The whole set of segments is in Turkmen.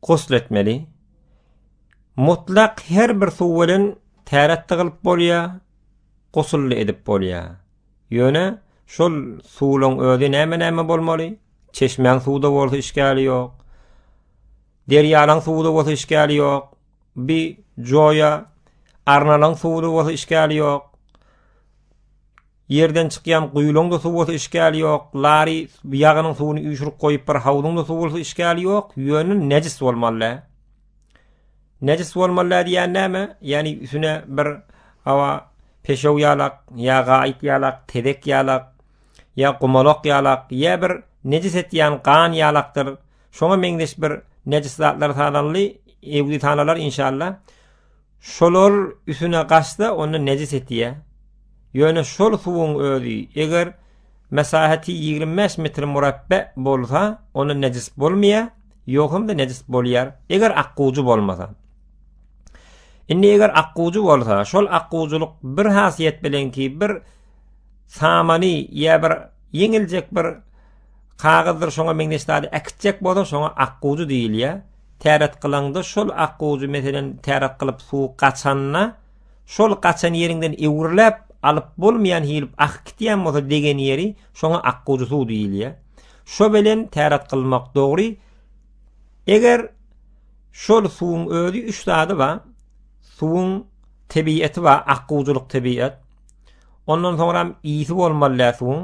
Gusl etmeli. Mutlak her bir suw bilen täret-de gylyp bolýar, gusl-de edip bolýar. Ýöne şol suwlaň özi näme-näme bolmaly? Çeşmäň suwy-da bolsa işgäli ýok. Derýalaň suwy-da bolsa işgäli ýok. Bi joýa arnalaň suwy-da bolsa işgäli ýok. Ýerden çykýan guýulaňda suw bolsa işgäli ýok, lary ýagynyň suwuny üýşürip goýup bir hawzyňda suw bolsa işgäli ýok, ýöne nejis bolmaly. Nejis bolmaly diýýän näme? Ýani üsüne bir hawa peşew ýalak, ýa gaýyt ýalak, tezek ýalak, ýa gumalak ýalak, ýa bir nejis etýän gan ýalakdyr, şoňa meňzeş bir nejis zatlar sananly, ewli sanalar inşallah. Şolar üsüne gaçsa, onda nejis etýä. Ýöne şol suwuň özi, eger mesaheti ýigrimi bäş metr murabbe bolsa, onda nejis bolmaýa, ýok hem-de nejis bolýar, eger akgujy bolmasa. Indi eger akgujy bolsa, şol akgujylyk bir hasiýet bilen ki, bir samany ýa bir ýeňiljek bir Kagyzdyr şoňa meňzeş zady äkitjek bolsaň şoňa ak gujy diýilýär. Täret kylaňda şol ak gujy meselen täret kylyp suw gaçanda şol gaçan ýeriňden öwürläp alyp bolmaýan hilip akyp gitýän bolsa degen ýeri şoňa ak gujy suw diýilýär. Şo bilen täret kylmak dogry. Eger şol suwuň özi üç zady bar. Suwuň tebiýeti bar, ak gujylyk tebiýet. Ondan soňram ýiti bolmaly däl suwuň.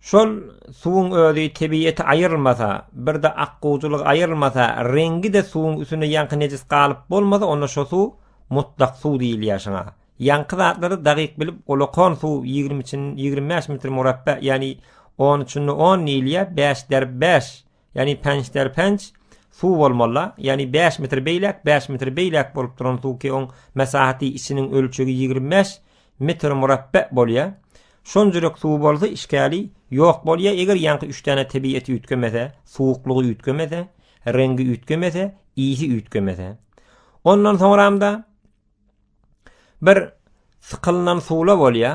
Şol suwuň özi tebiýeti aýyrylmasa, birde akguwjylygy aýyrylmasa, reňgi-de suwuň üstünde ýaňky nejis galyp bolmasa, onda şo suw mutlak suw diýilýär şoňa. Ýaňky zatlary dagyk bilip, olakan suw ýigrimi çin, ýigrimi bäş metr murapbe, ýagny on üçinde on diýilýär, bäş derb bäş. Ýagny pençler penç suw bolmalyda, ýagny bäş metr beýläk, bäş metr beýläk bolup duran suw ki oň mesahaty içiniň ölçegi ýigrimi bäş metr murapbe bolýa. Şonjurek suw bolsa işgäli ýok bolýa, eger ýaňky üç däne tebieti üýtgemese, suwuklygy üýtgemese, reňgi üýtgemese, isi üýtgemese. Ondan soňramda Bir sykylynan suwla bolýa,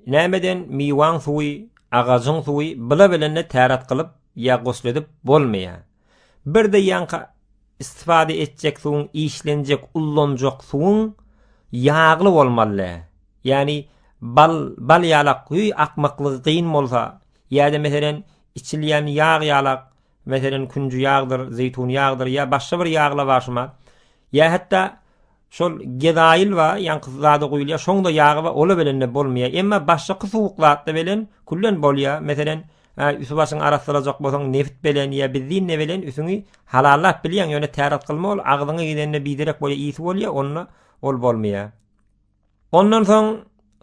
nämeden miwaň suwy, agajyň suwy bila bilende täret kylyp ýa gusledip bolmaýa. Bir de ýaňky istifade etjek suwuň işlenjek ullanjak suwuň ýagly bolmalydä. Ýani bal bal ýalak höý akmaklygy gyn bolsa ýada meselen içilýän ýag ýalak Meselem, künji ýagdyr, zeýtun ýagdyr ýa başga bir ýag lawaşyma ýa hatda şol gezaýyl bar, ýaňky zada guýulýar, şoň da ýagy bar, ola belende bolmaýar. Emma başgaky suwuk zatda belen küllen bolýar. Meselem, üsi-başyňy arassalajak bolsaň, nebit belen ýa benzinde belen üsüňi halallap bilýäň, ýöne täret kylma ol, agzyňa gidende biderek bolýar, ysy bolýar, onda ol bolmaýar. Ondan soň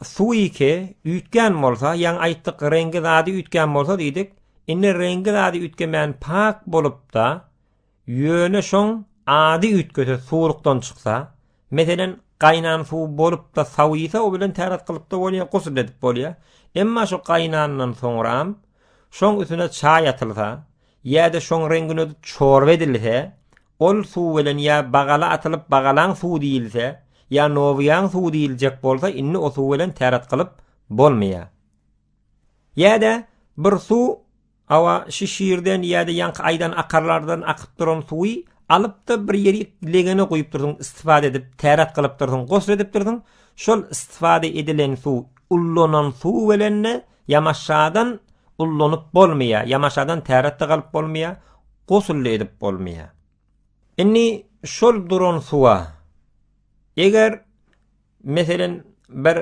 suwiki üýtgän bolsa, ýaňy aýtdyk reňki zady üýtgän bolsa diýdik. Indi reňki zady üýtgemän pak bolupda, ýöne şoň ady üýtgese suwlukdan çyksa, meselem gaýnan suw bolupda sawisa o bilen täret kylypda bolýa, gusl edip bolýa. Emma şu gaýnandan soňram şoň üstüne çaý atylsa, ýa-da şoň reňgini ödüp çorba edilse, ol suw bilen ýa bagala atylyp bagalaň suwy diýilse, ýa nowyýaň suwy diýiljek bolsa indi o suw bilen täret kylyp bolmaýar. Ýa-da bir suw awa şi şirden ýa-da ýaňky aýdan akarlardan akyp duran suwy alyp-da bir ýerik legene guýup dursuň istifade edip täret kylyp dursuň gosl edip dursuň şol istifade edilen suw ullanan suw bilen-de ýamaşadan ullanyp bolmaýar, ýamaşadan täret-de galyp bolmaýar, gusl-da edip bolmaýar. Indi şol duran suwa, eger, meselen, bir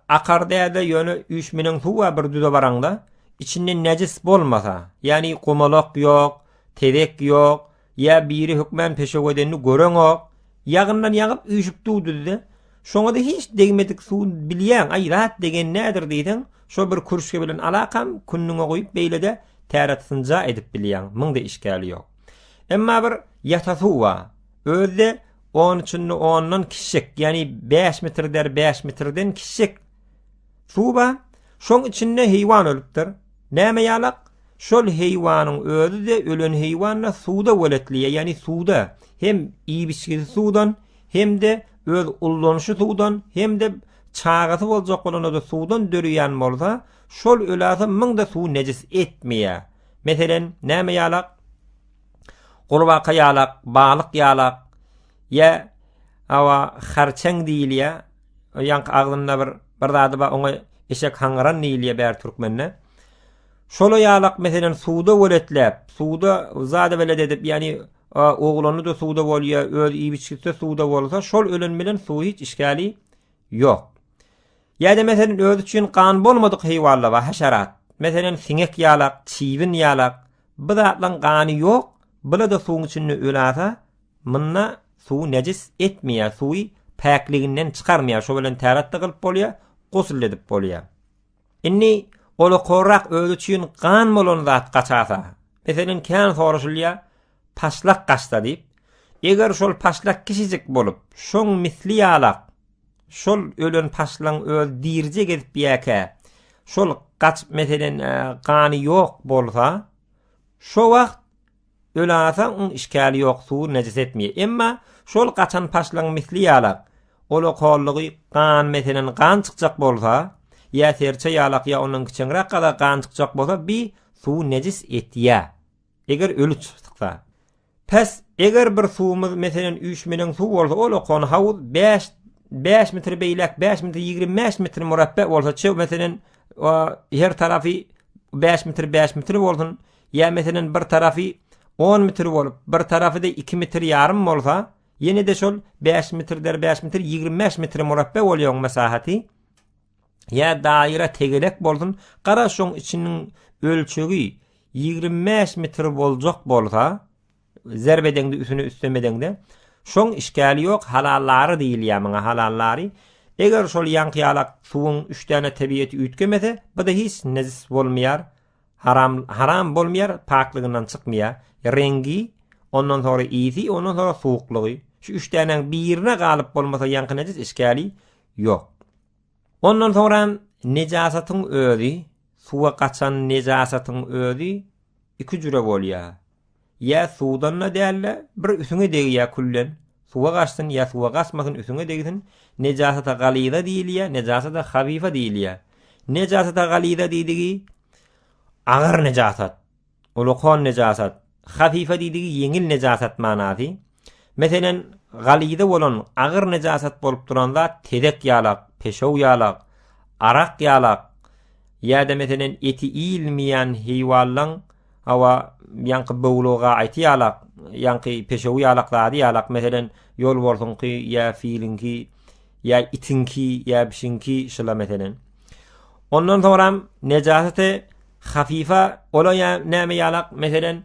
akar däl-de, ýöne üýşmeleň suw bar bir düze baraňda, içinde nejis bolmasa, ýagny gumalak ýok, tezek ýok, Ýa biri hökmän peşew edenini göreňok, ýagyndan ýagyp üýşüp duwdydy-da, şoňa-da hiç degmedik suw bilýäň, aý, zat degen nädir diýseň, şo bir kürşge bilen alakam, kündüňe guýup beýle-de täret synja edip bilýäň, müň-de işgäli ýok. Emma bir ýata suw bar, özi-de on içinde ondan kiçijek, ýagny bäş metr der bäş metrden kiçijek, Suba, şoň içinde heýwan ölüpdir. Näme ýalak? Şol heýwanyň özi-de, ölen heýwan-da suwda weletliýe, ýagny suwda. Hem iýip-içgisi suwdan, hem-de öz ullanyşy suwdan, hem-de çagasy boljak bolanda-da suwdan döreýän bolsa, şol öläse müň-de suwy nejis etmeýär. Meselem, näme ýalak? Gurbaka ýalak, balyk ýalak. Ýa, hawa, harçeň diýilýär. O ýaňky agzynda bir bir zady bar, oňa eşek haňyran diýilýär bäri türkmende. Şola ýalak meselen suwda weletläp, suwda zada welet edip, ýani oglany da suwda bolýar, öz iýip-içgisi suwda bolsa, şol ölen bilen suw hiç işgäli ýok. Ýa-da meselen özi üçin gan bolmadyk heýwanlar bar, haşerat. Meselen siňek ýalak, çybyn ýalak. Bu zatlaryň gany ýok, bula-da suwuň içinde ölasa, Munda suwy nejis etmeýär, suwy päkliginden çykarmaýar, şo bilen täret-de gylyp bolýar, gusl-de edip bolýar. Indi ola korrak özi üçin gan bolan zat gaçasa, meselen, kän soraşylýar, paşlak gaçsa diýip, eger şol paşlak kiçijik bolup, şoň misli ýalak, şol ölen paşlagyň özi dirije gezip ýäkä, şol gaçyp, meselen, gany ýok bolsa, şo wagt, Ölasaň oň işkali ýok suwy nejis etmeýär. Emma şol gaçan paşlaň misli ýalak. Ola kollugy gan meselen gan çykjak bolsa, ýa serçe ýalak ýa ondan kiçeňräk gada gan çykjak bolsa bi suwy nejis etýä. Eger öli çyksa. Pes eger bir suwumyz meselen üýşmeleň suw bolsa ol okan hawuz bäş bäş metr beýläk bäş metr ýigrimi bäş metr murapbe bolsa çöw meselen o her tarapy bäş metr bäş metr bolsun ýa meselem bir tarapy on metr bolup, bir tarapy-da iki metr ýarym bolsa, ýene-de şol bäş metr der bäş metr ýigrimi bäş metr murabbe bolýar oň mesahaty. Ýa daýra tegelek bolsun, gara şoň içiniň ölçegi ýigrimi bäş metr boljak bolsa, zerb edeňde üstüne üstem edeňde, şoň işgäli ýok, halallary diýilýär muňa, halallary. Eger şol ýaňky ýalak suwuň üç däne tebieti üýtgemese, bu-da hiç nejis bolmaýar, Haram haram bolmaýar, paklygyndan çykmaýar. Reňgi, ondan soňra ysy, ondan soňra suwuklygy. Şu üç dänäň birine galyp bolmasa ýaňky nejis işgäli ýok. Ondan soňra nejasatyň özi, suwa gaçan nejasatyň özi iki jüre bolýar. Ýa suwdan-da däl-de, bir üsüňe degýär küllen, suwa gaçsyn ýa suwa gaçmasyn üsüňe degsin, nejasata galyza diýilýär, nejasata habyfa diýilýär. Nejasata galyza diýdigi, agyr nejasat, ulkan nejasat, habyfa diýdigi, ýeňil nejasat manasy. Meselem, galyzy bolan agyr nejasat bolup duran zat tezek ýalak, peşew ýalak, arak ýalak ýa-da meselem eti iýilmeýän heýwanlaň, hawa, ýaňky böwlügi gaýty ýalak, ýaňky peşewi ýalak zady ýalak, meselem, ýolbarsyňky ýa filiňki ýa itiňki ýa bişiňki şyla meselem. Ondan soňram nejasaty hafifa, ol-a näme ýalak, meselem,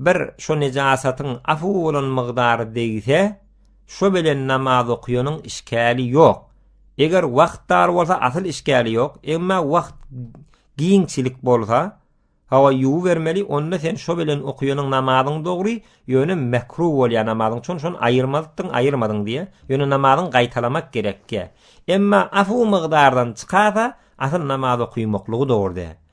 bir şo nejasatyň afu bolan mygdary degse, şo bilen namaz okuýanyň işgäli ýok. Eger wagt dar bolsa asyl işgäli ýok, emma wagt giňçilik bolsa, hawa ýuwubermeli, onda sen şo bilen okuýanyň namazyň dogry, ýöne mekruh bolýar namazyň, şon şony aýyrmadypdyň, aýyrmadyň diýýär, ýöne namazyň gaýtalamak gerekýär. Emma afu mygdardan çykasa, asyl namaz okuýmaklygy dogry däl.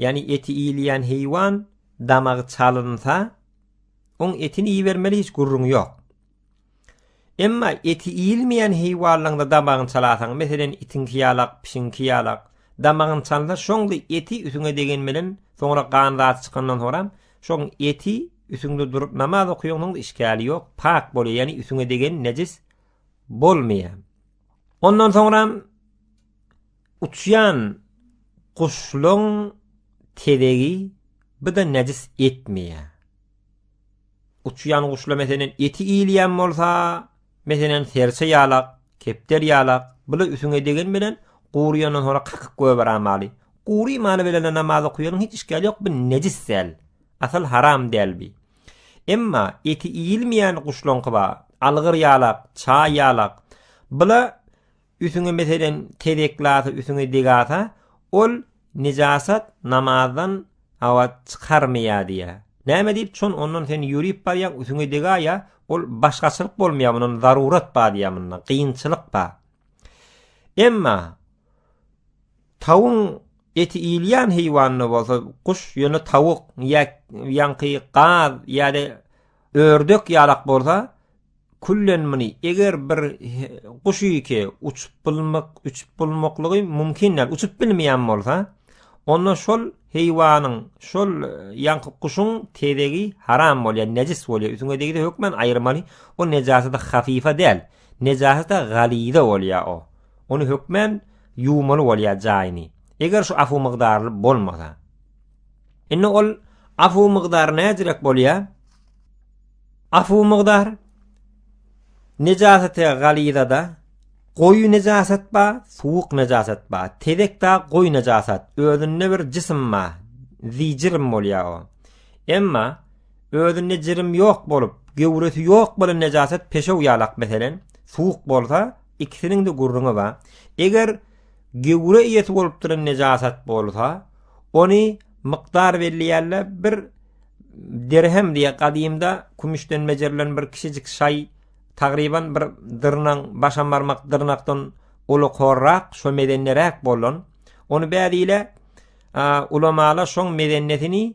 Ýagny eti iýilýän heýwan damagy çalynsa, oň etini iýibermeli hiç gürrüň ýok. Emma eti iýilmeýän heýwanlaňda damagyny çalasaň, meselem itiňki ýalak, pişiňki ýalak, damagyny çalsa şoňda eti ütiňe degen bilen soňra gan zat çykandan soňram şoň eti ütiňde durup namaz okaýaňsoňda işgäli ýok, pak bolýar, ýagny ütiňe degen nejis bolmaýar. Ondan soňram Uçýan guşlaň tezegi bida nejis etmeýär. Uçýan guşla meselen eti iýilýän bolsa, meselen serçe ýalak, kepder ýalak, bula üsüňe degen bilen guryýandan soňra kakyp goýberamaly. Gury maly bilen-de namaz okaýanyň hiç işgäli ýok, bu nejis däl. Asal haram däl bi. Emma eti iýilmeýän guşlaňky bar, algyr ýalak, çaý ýalak. Bula Üsüňe meselen tezek lasa üsüňe deg asa ol nijasat namazdan abat çykarmaýa diýä. Näme diýip çon ondan sen ýörip barýaň üsüňe deg aýa ol başgaçylyk bolmaýa mundan zarurat bar diýä munda gynçylyk bar. Emma tawuň eti iýilýän heýwanda bolsa guş ýöne tawuk ýa ýaňky gaz ýa-da Ördek ýalak bolsa küllen muny eger bir guş ýeke uçup bulmak uçup bulmaklygy mumkin däl uçup bilmeýän bolsa onda şol heýwanyň şol ýaňky guşuň tezegi haram bolýar nejis bolýar üsüňe degdi hökmen aýyrmaly o nejasada hafifa däl nejasada galiza bolýar o ony hökmen ýuwmaly bolýar jaýyny eger şu afu mygdarly bolmasa Indi ol afu mukdary nädirek bolýar? Afu mukdary nejasete galizada goýy nejasat ba, suwuk nejasat ba, tezek da goýy nejasat. Özünde bir jisim ba, zijrim bolýar o. Emma özünde jirim ýok bolup, göwresi ýok bolan nejasat peşew ýalak meselen, suwuk bolsa ikisiniň de gurruňy ba. Eger Gewre iýesi bolup duran nejasat bolsa, ony mykdar belleýärler, bir dirhem diýýär, gadymda kümüşden bejerilen bir kiçijik şaý, tagryban bir dyrnaň, başam barmak dyrnakdan uly horrak, şo mezenneräk bolan, ony bädi ile ulamalar şoň mezennesini,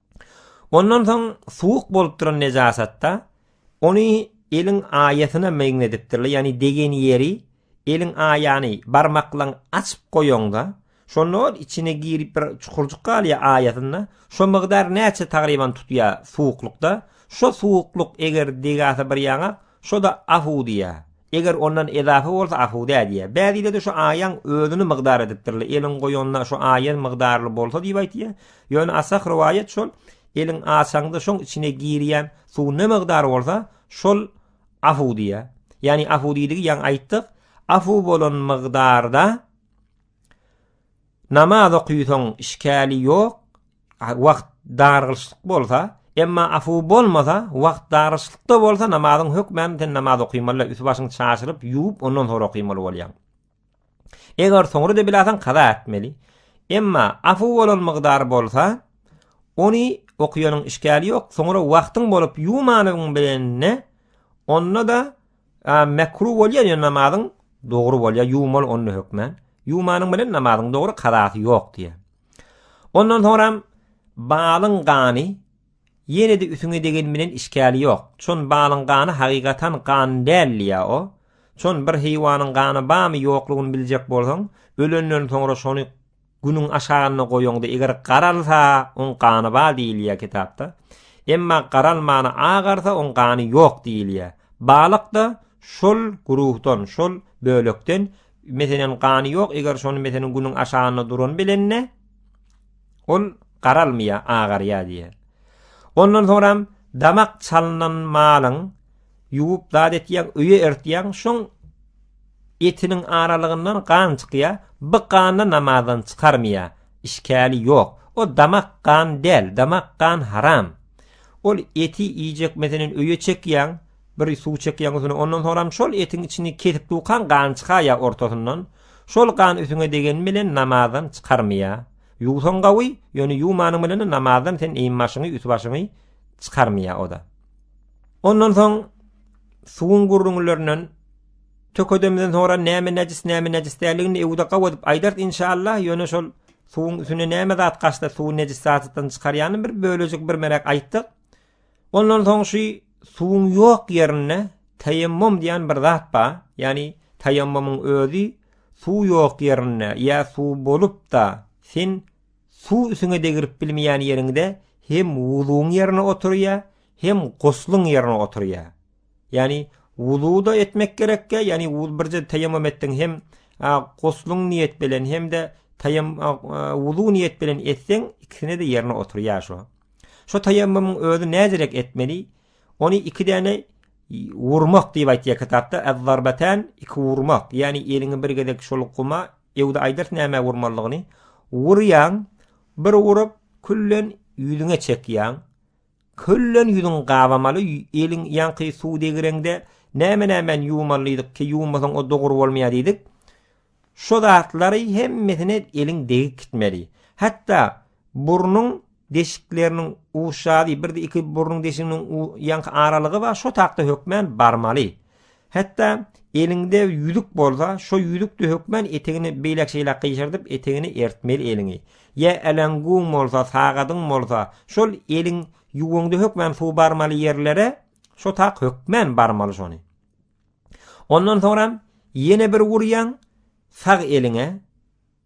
Ondan soň suwuk bolup duran nejasatda ony eliň aýasyna meňzedipdirler, ýagny degen ýeri eliň aýany barmaklaň açyp goýaňda, şonda ol içine girip bir çukurjyk galýar aýasynda, şo mygdar näçe tagryban tutýar suwuklykda, şo suwukluk eger degasa bir ýaňa, şo-da afu diýýär. Eger ondan ezafa bolsa asuda diýýär. Bäzileri şu aýaň özüni mygdar edipdirler. Eliň goýanda şu aýan mygdarly bolsa diýip aýtýar. Ýöne asah rowaýat şol, eliň açaňda şoň içine girýän suw ne mygdar bolsa, şol afu diýýär. Ýagny afu diýdigi ýaňy aýtdyk, afu bolan mygdarda Namaz okysoň işkali ýok, wagt dargylyşlyk bolsa, emma afu bolmasa, wagt dargylyşlykda bolsa namazyň hökmän sen namaz okymaly, üsti başyňy çaşyryp, ýuwup ondan soň okymaly bolýaň. Eger soňra-da bilasaň kaza etmeli. Emma afu bolan mygdar bolsa, ony okýanyň işkali ýok, soňra wagtyň bolup ýuwmanyň bilen-de, onda-da A mekruh bolýar ýöne namazyň dogry bolýar ýuwmaly onda hökmän. Ýuwmanyň bilen namazyň dogry kazasy ýok diýýär. Ondan soňram balyň gany ýene-de üsüňe degen bilen işgäli ýok. Çon balyň gany hakykatan gan däl diýýär o. Çon bir heýwanyň gany barmy ýoklugyny biljek bolsaň, ölenden soňra şony Günüň aşagyna goýaňda eger garalsa oň gany bar diýilýär kitapda. Emma garalmana agarsa oň gany ýok diýilýär. Balykda şol guruhdan şol bölekden meselen gany ýok eger şony meselen günüň aşagynda duran bilende ol garalmaýar agarýar diýýär. Ondan soňram damak çalynan malyň Ýuwup zat etýäň, öýe ertýäň, şoň etiniň aralygyndan gan çykýa, by gany namazdan çykarmýa, işkäli ýok. O damak gan däl, damak gan haram. Ol eti iýjek meselen öýe çekýäň, bir suw çekýäň üsüne, ondan soňram şol etiň içini kesip dukaň gan çykaýa ortasyndan, şol gan üsüňe degeni bilen namazdan çykarmýa. Ýuwsaň gawy, ýöne ýuwmanyň bilen-de namazdan sen eýin başyňy, üst başyňy çykarmýa o-da. Ondan soň suwuň gürrüňlerinden tökedemden sonra näme näjis näme näjis däligini ewde gaw edip aýdart inşallah ýöne şol suwuň üstüne näme zat gaçsa suwuny näjis zatdan çykarýany bir bölejik bir merek aýtdyk ondan soň şu suwuň ýok ýerinde taýemmum diýen bir zat bar ýani taýemmumyň özi suw ýok ýerinde ýa suw bolup da sen Suw üsiňe degirip bilmeýän ýeriňde hem wuzuň ýerine oturýa, hem guslyň ýerine oturýa. Ýani wuzu-da etmek gerekkä, ýani wuz birje teýemum etdiň hem a guslyň niýet bilen hem-de teýem a wuzu niýet bilen etseň ikisine-de ýerine oturýa şo. Şo teýemmumyň özi näderek etmeli? Ony iki däne wurmak diýip aýtýa kitapda, ez-zarbatan iki wurmak, ýani eliňi bir gezek şol guma Ýowda aýdars nämä urmalydygyny, Urýaň, bir urup, küllen ýüzüňe çekýäň. Küllen ýüzüň gabamaly, eliň ýaňky suw degireňde näme-nämän ýuwmalydyk ki, ýuwmasaň o dogry bolmaýar diýdik. Şo zatlary hemmesine eliň degip gitmeli. Hatda Burnuň deşikleriniň uşady, bir-de iki burnuň deşiginiň ýanky aralygy bar, şo takda hökmän barmaly. Hetda eliňde ýüzük bolsa, şo ýüzükde hökmän etegini beýläk-şeýläk gyşardyp, etegini ertmeli eliňi. Ýa äleňguň bolsa, sagadyň bolsa, şol eliň ýuwuňda hökmän suw barmaly ýerlere şo tak hökmän barmaly şony. Ondan soňra ýene bir urýaň sag eliňe,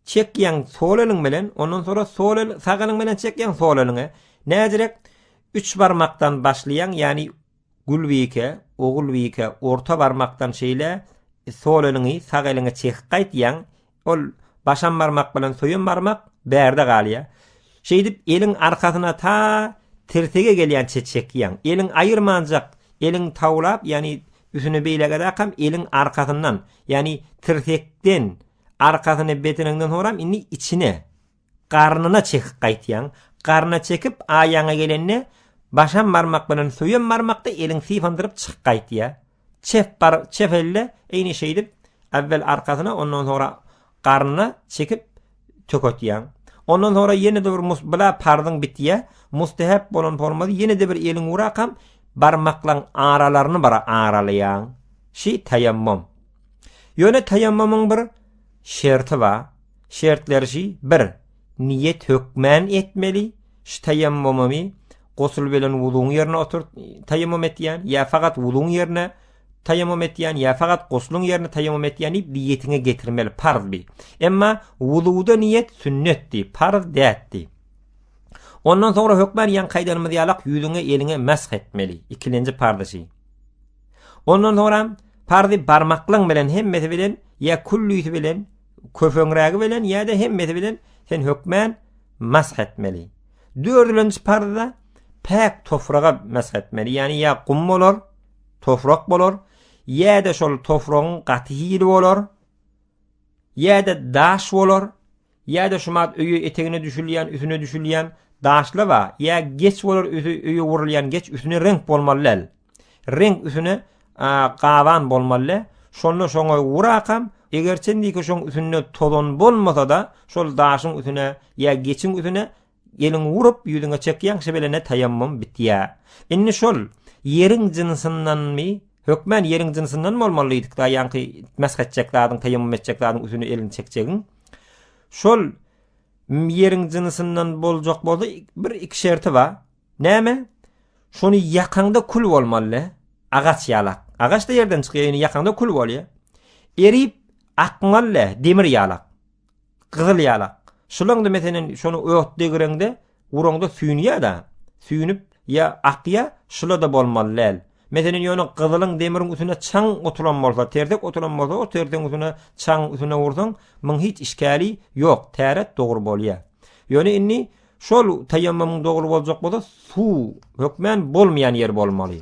çekýäň sol eliň bilen, ondan sonra sol el sag eliň bilen çekýäň sol eliňe, näzirek üç barmakdan başlaýaň, ýagny gulbike, ogulbike, orta barmakdan şeýle sol eliňi sag eliňe çekip gaýtýaň, ol başam barmak bilen söýem barmak bärde galýar. Şeýdip eliň arkasyna ta tirsege gelýänçe çekýäň. Eliň aýyrmanjak, eliň tawlap, ýagny üsüne beýlägedäkam eliň arkasyndan, ýagny tirsekden, Arkasyny beteneňden soňram indi içine, garnyna çekip gaýtýaň. Garnyna çekip, aýagyňa gelende, başam barmak bilen söýem barmakda eliň sypandyryp çykyp gaýtýar. Çep bar, çep elde, eýni şeýdip, äwwel arkasyna, ondan soňra garnyna çekip töketýäň. Ondan soňra ýene-de bir mus, bula parzyň bitýär. Mustehep bolan formady ýene-de bir eliň urakam barmaklaň aralaryny bir aralaýaň. Şi taýammum. Ýöne taýammumyň bir şerti bar. Şertleri şi, bir, niýet hökmän etmeli, şu taýammumumy gusl bilen wuzuň ýerine oturt, taýammum etýän, ýa fakat wuzuň ýerine taýammum etýän, ýa fakat gusluň ýerine taýammum etýän diýip niýetiňe getirmeli, parz bi. Emma wuzuda niýet sünnetdi, parz dätdi. Ondan soňra hökmän ýaňky aýdanymyz ýalak ýüzüňe, eliňe mesh etmeli. Ikilenji parz şi. Ondan soňram parzy barmaklyň bilen hemmesi bilen ýa küllisi bilen köpeňrägi bilen ýa-da hemmesi bilen sen hökmän mash etmeli. Dördülenji parzda päk tofraga mash etmeli. Ýani ýa gum bolar, tofrak bolar, ýa-da şol tofragyň gaty hili bolar, ýa-da daş bolar. Ýa-da şumat öýe etegine düşülýän, üsüne düşülýän daşlaba ýa geç bolar üsi öýe urulýan geç üsüne reňk bolmaly däl. Reňk üsüne gaban bolmaly. Şonda şoňa urakam, egerçe indiki şoň üsünde tozan bolmasa-da, şol daşyň üsüne ýa geçiň üsüne Eliňi urup, ýüzüňe çekýäň, şebilene taýammum bitýär. Indi şol ýeriň jynsyndanmy? Hökmän ýeriň jynsyndan bolmaly diýdik-dä, ýaňky mesh etjek zadyň, taýammum etjek zadyň üstüne elini çekjegiň. Şol ýeriň jynsyndan boljak bolsa, bir iki şerti bar. Näme? Şony ýakaňda kül bolmaly. Agaç ýalak. Agaç-da ýerden çykýar, ýakaňda kül bolýar. Erip akmaly, demir ýalak. Gyzyl ýalak. Şylyňdy meselem şony ot degireňde uraňda süýnýäda. Süýnüp ýa akýa şylada bolmaly däl. Meselem ýöne gyzylyň demiriň üstüne çaň oturan bolsa tersek oturan bolsa o tersegiň üstüne çaň üstüne ursaň muň hiç işgäli ýok täret dogry bolýa. Ýöne indi şol taýammamyň dogry boljak bolsa suw hökmän bolmaýan ýer bolmaly.